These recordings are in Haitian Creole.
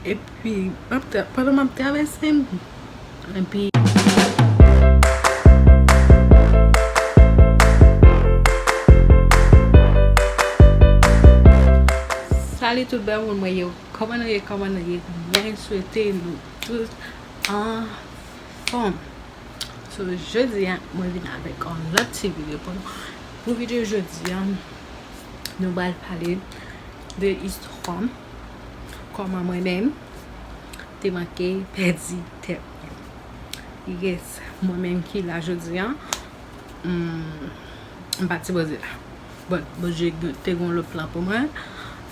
Epi pandan map travèse m epi. Salut tout bèl moun mwen yo kòman nou ye kòman nou ye mwen swete nou tout anfòm. So jodi a mwen vin avèk on lòt ti video pou nou. Pou video jodi a nou bal pale de istwam kòman mwen menm te manke pèdi tèt mwen. Yes mwen menm ki la jodi a m pat sipoze la. But Bondye te gon lòt plan pou mwen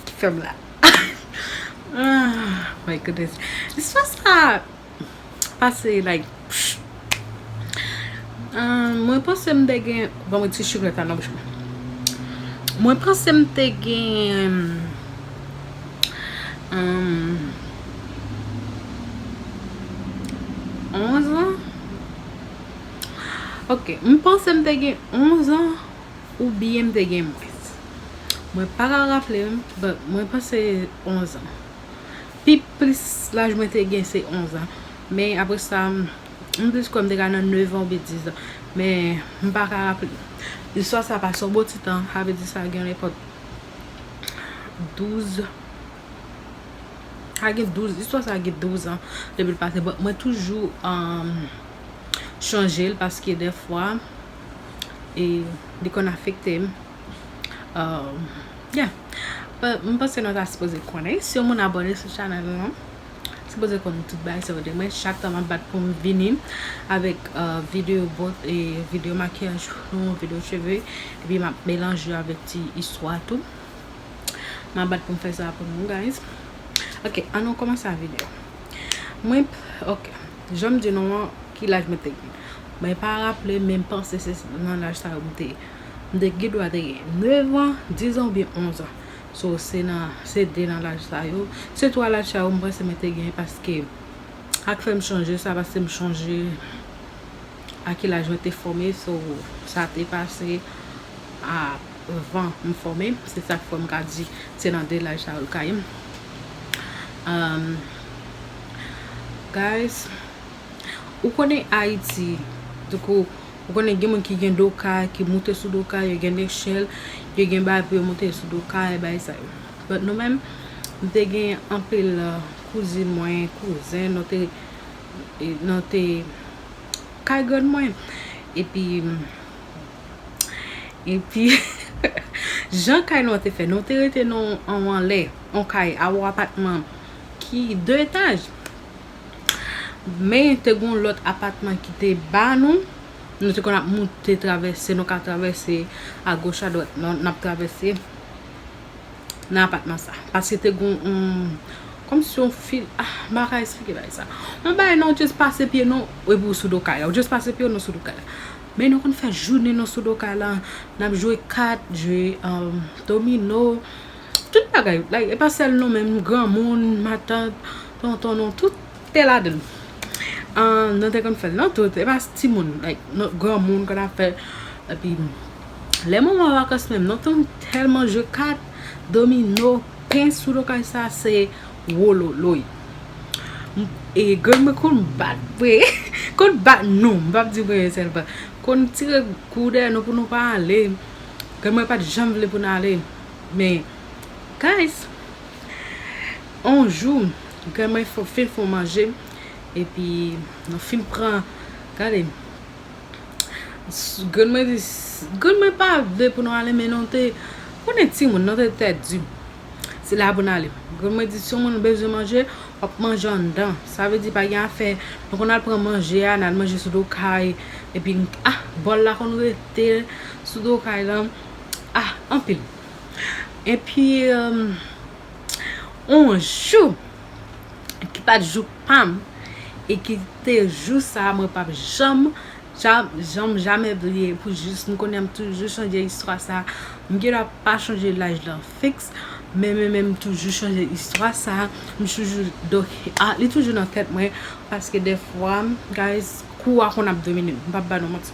ki fèm la. My goodness istwa sa Pase like Mwen panse m te gen Banm yon ti chiklet la nan bouch mwen Mwen panse m te gen Onz an Ok M panse m te gen onz an Ou byen m te gen mwens Mwen pa ka raple m Mwen panse onz an Pi plis laj mwen te gen se 11 an. Men apre sa, m plis kwè m te ka nan 9 an oubyen 10 an. Men m pa ka raple. Istwa sa pase yon bon ti tan. Sa vle di sa gen nenpòt 12. Sa gen 12. Istwa sa gen 12 an depi l pase. Bon, mwen toujou chonje l paske dèfwa li konn afekte m. Yeah M panse nou ta sipoze konnen si yon moun abone sou chanèl la nou sipoze konnen tout bagay sa yo de mwen chak tan map bat poum vini avèk video bot e video makiyaj nou video cheve epi map melanje yo avèk ti istwa tou map bat poum fè sa pou nou guys ok an nou kòmanse a video mwen ok janm di nou an ki laj mwen te gen mwen pa raple menm panse se nan laj sa yo m te. M te gen dwa te gen 9 an, 10 an oubyen 11 an. So se nan, se 2 nan laj sa yo. Se 3 laj sa yo m panse mwen te gen paske sa k fè m chonje sa paske m chonje a ki laj mwen te fòme so sa te pase avan m fòme. Se sa k fè m ka di se nan 2 laj sa yo l ka ye. Guys, ou konnen Ayiti, tankou. Ou konnen gen moun ki gen do kay, ki moute sou do kay, yo gen lechèl, yo gen bagay pou yo moute sou do kay, bagay sa yo. But nou menm, nou te gen anpil kouzin mwen, kouzen, nou te, nou te kay grann mwen. Epi, epi, jan kay nou an te fè, nou te rete nan yon anlè, yon kay, yon apatman ki 2 etaj. Men te gon lòt apatman ki te ba nou, nou te konn ap moute travèse, nou ka travèse a goch a dwat nan ap travèse nan apatman sa. Pase te gon yon, kòm si yon fil, ah, m pa ka esplike bagay sa. Yon bagay nan ou just pase pye nou, epi ou sou do kay la. Ou just pase pye nou sou do kay la. Men nou konn fè jounen nou sou do kay la, n ap jwe kat, jwe domino, tout bagay. Like, e pa sèl nou menm, granmoun, matant, Tonton nou tout te ladann. Ahh nou te konn fèl non tout epa timoun like granmoun konn ap fèl epi lè moman vakans menm nou konn tèlman jwe kat, domino, pens sou do kay sa se wololoy e grann mwen konn bat vre konn bat nou m pap di mwen sèl bat konn tire kou dèyè nou pou nou pa ale grann mwen pat janm vle pou n ale men guys On jou, Gran mè fin fon manje, epi nou fin pran, gade, Gran mè di, Gran mè pa vle pou nou ale men nou te, konnen ti moun, nou te tè di, se la pou nou ale. Gran mè di, si yon moun bezwen manje, w ap manje anndan. Sa vle di pa gen afè, nou konn al pran manje a, n al manje sou do kay, epi, ah, bòl la konn rete sou do kay lan, ah, anpil. Epi on jou ki pat jou pam e ki te jou sa mwen pap janm janm jamè bliye pou jis m konnen m toujou chanje istwa sa m gen dwa pa chanje laj lan fiks men men men m toujou chanje istwa sa m toujou li toujou nan tèt mwen paske defwa guys kou a konn ap domine m m pap ba nou manti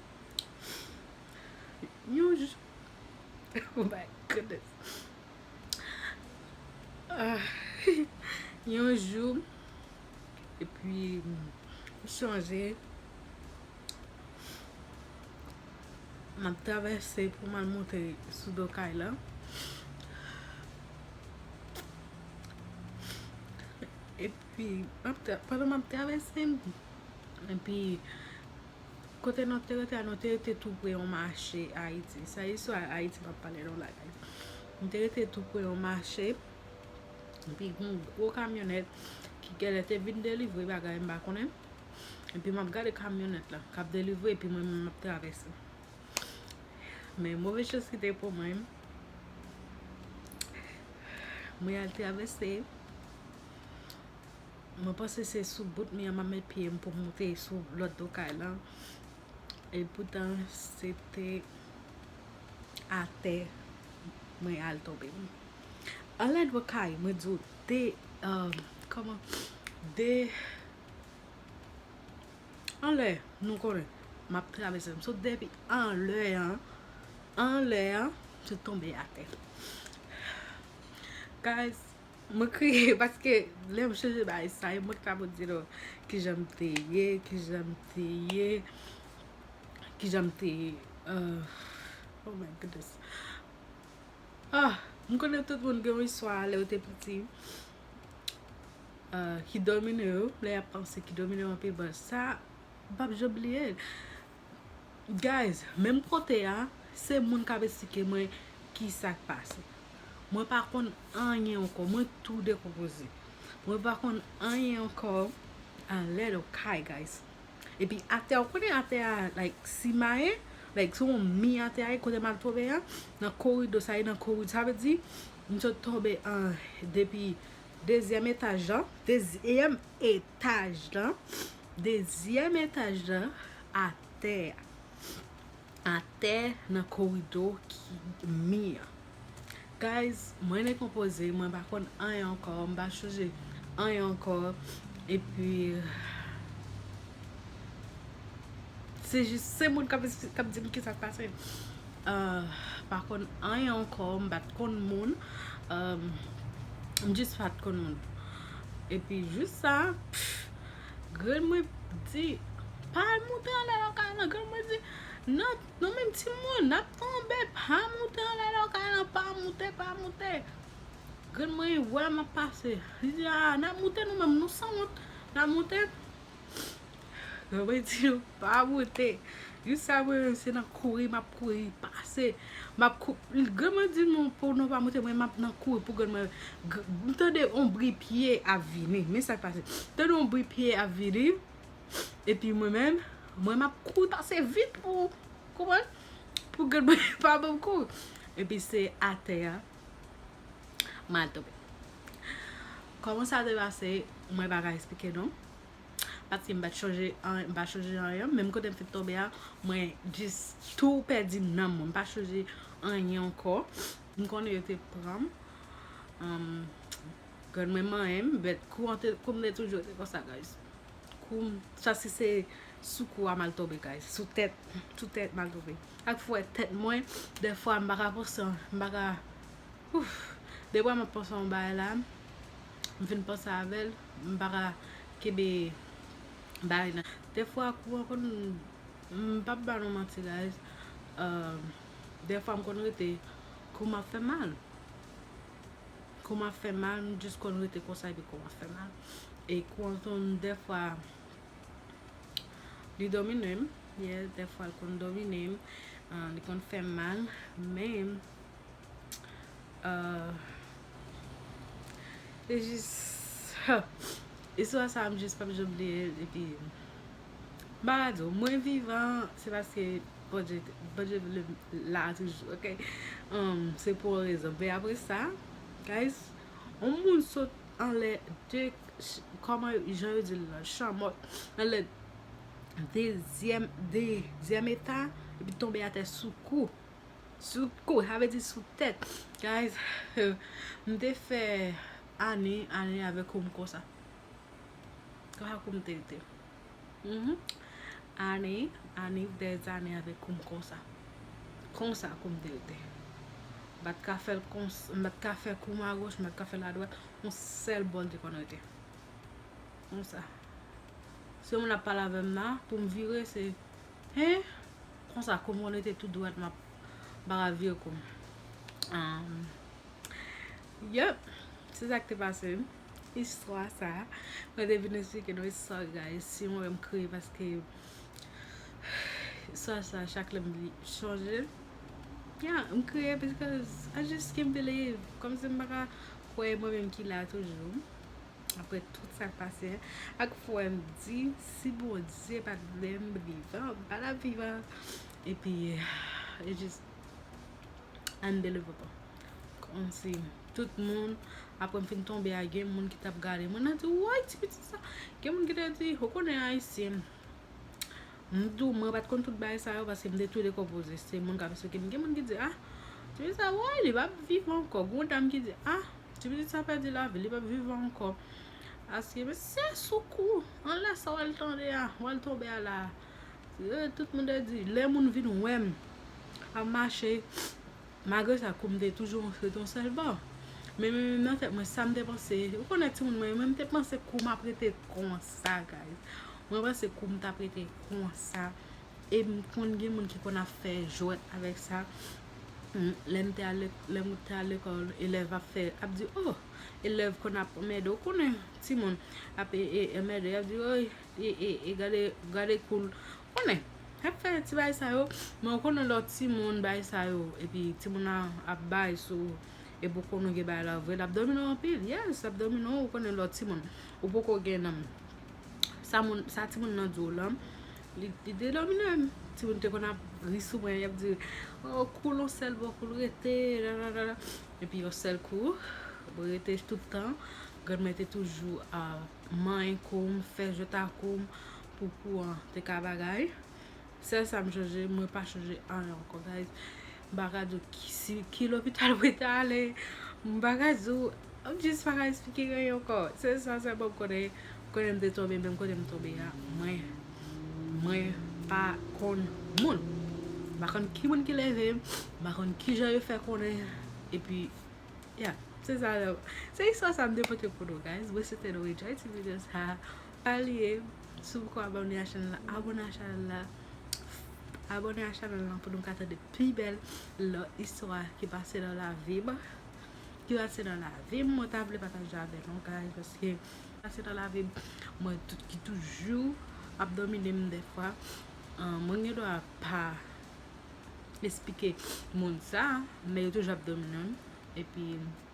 Yon jou Oh my goodness Yon jou E pi M sonje M ap travèse pou m al monte sou do kay la E pi pandan m ap travèse M epi Kote nou te rete a, nou te rete tou pre yon mache Ayiti. Sa istwa Ayiti m ap pale nou la a. Nou te rete tou pre yon mache, epi gen yon gwo kamyonèt ki genlè te vin delivre bagay m pa konnen. Epi m ap gade kamyonèt la k ap delivre epi mwen menm m ap travèse. Men move chans ki te pou mwen, mwen al travèse. Mwen panse se sou bout mi an map met pye m pou m moute sou lòt do kay lan. E poutan se te atè mwen al tonbe. Anlè dwa kay mwen di w de kòman de anlè nou konnen map travèse m. Sot depi anlè an anlè an se tonbe atè. Guys Mwen kriye paske lèm chanje bagay sa yo mwen t ka pou di nou kijan m te ye, kijan m te ye, kijan m te ye oh my goodness ah m konnen tout moun gen yon istwa lè yo te piti ki domine yo lè yap panse ki domine yo anpil bon sa m pap janm bliye l. Guys menm kote a se moun kap esplike mwen kisak pase mwen pa konn anyen ankò mwen tou dekonpoze mwen pa konn anyen ankò anlèd okay guys epi atè ou konnen atè a like simaye like se yon mi atè a kote mal tonbe a nan korido sa e nan korido sa vle di m sot tonbe an depi dezyèm etaj la dezyèm etaj la Dezyèm etaj lan atè a. Atè nan korido ki mi an. Guys, mwen dekonpoze, mwen pa konn anyen ankò, m pa chonje anyen ankò. E pi. Se jis se moun k ap di m kisa k pase. Pa konn anyen ankò, m pa t konn moun. M jis pa t konn moun. E pi jis sa. Grann mwen di, pa al moute anlè lè w ka nan. Grann mwen di, nan, nou menm timoun, n ap tonbe, pa moute anlè lè w ka nan, pa moute, pa moute. Grann mwen wè m ap pase, li di, a, n ap moute nou menm, nou sanwont, n ap moute. Grann mwen di nou, pa moute. Jou sa mwen menm se nan kouri m ap kouri pase. Map kou Granma di non pou nou pa moute mwen map nan kouri pou granma M tande yon bri pye ap vini Men sak pase M tande yon bri pye ap vini Epi mwen menm Mwen map kouri pase vit pou Konprann Pou granma pa banm kou Epi se atè a Mal tonbe Koman sa te pase Mwen paka esplike nou Paske m pa t chanje anyen, m pa chanje anyen. Menm kote m fin tonbe a, mwen jis tou pèdi nanm mwen. M pa chanje anyen ankò. M konnen yo te pran m. Grann mwen manyen m, bèt kou an te, kou m te toujou te konsa guys. Kou m, sa si se sou kou a m al tonbe guys. Sou tèt, sou tèt m al tonbe. Ak fwè tèt mwen, dèfwa m pa ka panse, m pa ka, ouf. Dèfwa m ap panse yon bagay la. M fin panse avèl m paka kenbe bagay nan dè fwa kou an konn m pap ba nou manti guys dè fwa m konn rete kou m ap fè mal kou m ap fè mal m jis konn rete konsa epi kou m ap fè mal e kou an konn dè fwa li domine m yè dè fwa l konn domine m li konn fè m mal men Se jis Istwa sa m jis pap janm bliye l epi m pa ka di w mwen vivan se paske Bondye Bondye vle m la toujou ok se pou yon rezon men apre sa guys yon moun sot anlè de kòman jan yo di l lan chanmòt anlè dezyèm dezyèm eta epi tonbe atè sou kou Sou kou, sa vle di sou tèt. Guys, m te fè ane, ane avè kou m konsa. Konsa kou m te rete. Ane, ane, dèz ane avè kou m konsa. Konsa kou m te rete. M pa t ka fè l kons, m pa t ka fè kou m a goch, m pa t ka fè l a dwat. Yon sèl bò l te konn rete. Konsa. Si yon moun ap pale avè m nan, pou m vire se. Hein konsa koum konn rete tout dwat map bara vye koum aah Yup se sak te pase m istwa sa mwen te vin esplike nou istwa guys si mwen wèm kriye paske istwa sa chak lèm li chanje ya m kriye paske I just can't believe kòmsi m paka kwè e mwen menm ki la toujou. Aprè tout sa k pase a, ak fwa m di, si Bondye pa t vle m vivan, m pa t ap vivan. Epi, it's just unbelievable. Kòmsi tout moun, aprè m fin tonbe a, gen moun ki t ap gade mwen, nan di, woy ti pitit sa. Gen moun ki te di, ou konnen Ayisyen. M di w, mwen pa t konn tout bagay sa yo, paske m te tou dekonpoze. Se moun k ap esplike m. Gen moun ki di, ah, ti pitit sa, woy li pa p viv ankò. Gen yon dam ki di, ah. Ti pitit sa pèdi lavi l, li pap viv ankò. Aske mesye sou kou, anlè sa w al tande a, w al tonbe a la a. Ee, tout moun te di, lè moun vin wè m ap mache, malgre sa kou m te toujou yon feyton sèlman. Men men men nan tèt mwen sa m te panse, ou konnen timoun mwen yo, men m te panse kou m ap rete konsa guys. Mwen panse kou m t ap rete konsa. E m konn gen moun ki konn ap fè jwèt avèk sa. Lèm te al lèm te al lekòl elèv ap fè ap di oh elèv konn ap anmède ou konnen timoun ap anmède ap di oy e gade gade koul konnen ap fè ti bagay sa yo men ou konnen lè w timoun bagay sa yo epi timoun nan ap bay sou ou epi ou konnen gen bagay la vre l ap domine w anpil yes l ap domine w ou konnen lè w timoun ou poko gen sa moun sa timoun nan di w lan Li te domi nan menm. Timoun te konn ap ri sou mwen yap di oh koul yon sèl bò koul rete nananana epi yon sèl kou mwen rete tout tan granmè te toujou manyen koum fè jwèt akoum pou kou an te ka bagay sèl sam chanje mwen pa chanje anyen ankò guys M pa ka di w si ki lopital mwen ta ale, m pa ka di w, m jis pa ka esplike gen yon ankò. Se sa sèlman m konnen, m konnen m te tonbe men kote m tonbe a mwen, mwen pa konn moun. M pa konn ki moun ki leve m, m pa konn ki jan yo fè konnen epi ya. Se sa, se istwa sa m te pote pou nou guys. Mwen swete nou enjoy ti video sa. Sa li ye, si w poko abòne a chanèl la, abòne a chanèl la, abòne a chanèl la pou nou ka tande pi bèl lòt istwa ki pase nan lavi m, ki pase nan lavi m mwen ta vle pataje avèk nou guys paske pase nan lavi m mwen ki toujou ap domine m dèfwa mwen gen dwa pa esplike moun sa men yo toujou ap domine m epi